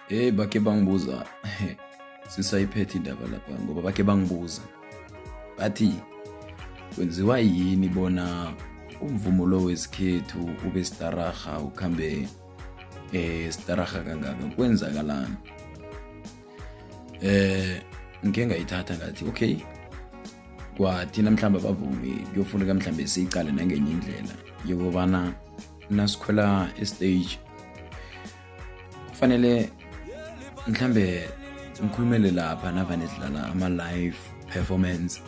Hey bakhe bangibuza sisayiphethe indaba lapha ngoba bakhe bangibuza bathi kwenziwa yini bona umvumo lo wesikhethu ube staraha ukuhambe eh staraha kangaka kwenzakalani eh ngike ngayithatha ngathi okay kwathina mhlawumbe abavumi kuyofuneka mhlawumbe siyiqale nangenye indlela yokubana nasikhwela istage kufanele mhlambe ngikhulumele lapha navane sidlala ama-live performance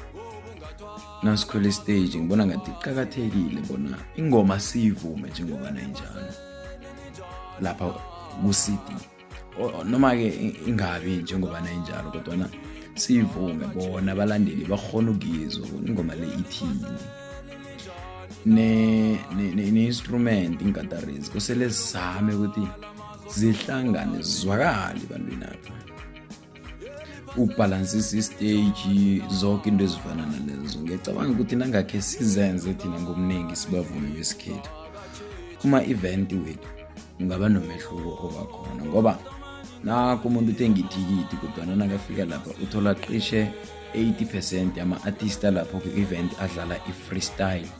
nasikhwela istage ngibona ngathi kuqakathekile bona ingoma siyivume njengoba nayinjalo lapha ku-cd noma-ke ingabi njengoba nayinjalo kodwana siyivume bona abalandeli bakhona ukuyizwa ingoma le ithini ne-instrument ne, ne, inkataris kusele zizame ukuthi zihlangane zizwakale ebantwini apha ukubhalansisa isiteji zonke into ezifana nalezo ngiyacabanga ukuthi nangakhe sizenze thina ngobuningi sibavumi besikhethu kuma-event wethu ungaba nomehluko obakhona ngoba nakho umuntu uthenga ithikithi kodwana nakafika lapha uthola qishe 80 percent yama-artista lapho kwi-event adlala i-freestyle